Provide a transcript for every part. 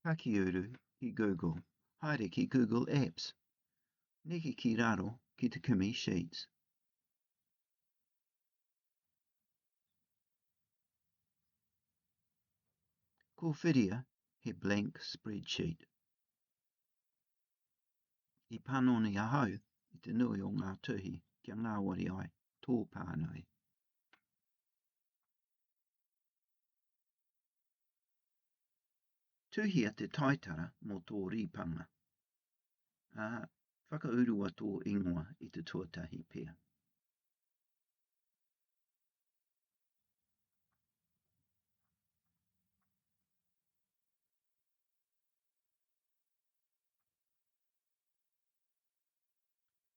Pakiuru ki Google. Haere ki Google Apps. Neke ki raro ki te kimi Sheets. Ko whiria he blank spreadsheet. I panoni ahau i te nui o ngā tuhi kia ngāwari ai tō pānui. Tuhia te taitara mō tō rīpanga, ā, whakaurua tō ingoa i te tuatahi pea.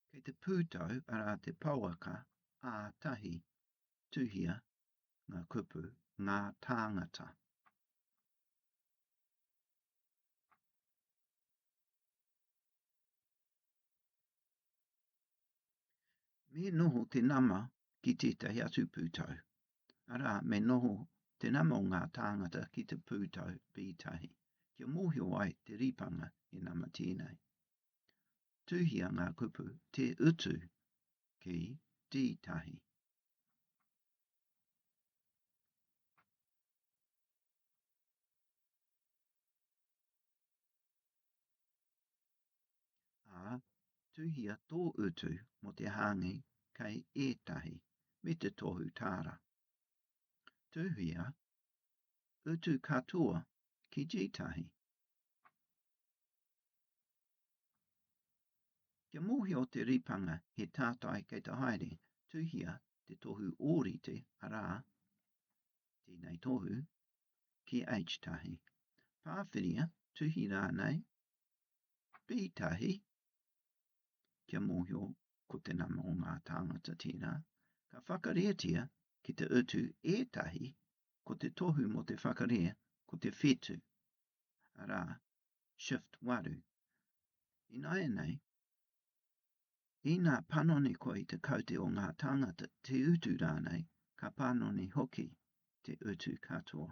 Kei te pūtau arā te pawaka ā tahi tuhia ngā kupu, ngā tāngata. Me noho te nama ki tētahi atu pūtau, arā, me noho te nama o ngā tāngata ki te pūtau pītahi, kia mōhio ai te ripanga he nama tēnei. Tuhia ngā kupu te utu ki tītahi. Ā, tuhia tō utu mō te hāngi kei ētahi, me te tohu tāra. Tuhia utu katoa ki tētahi. Kia mōhio te ripanga he tātai kei te haere, tuhia te tohu ōrite, arā, tēnei tohu, ki H-tahi. Pāwhiria, tuhi rānei, B-tahi, kia mōhio ko te nama o ngā tāngata tērā, ka whakarētia ki te utu ētahi ko te tohu mō te whakarē ko te whetū, arā, shift waru. Ināianei, inā panoni koe i te kaute o ngā tāngata, te utu rānei, ka panoni hoki te utu katoa.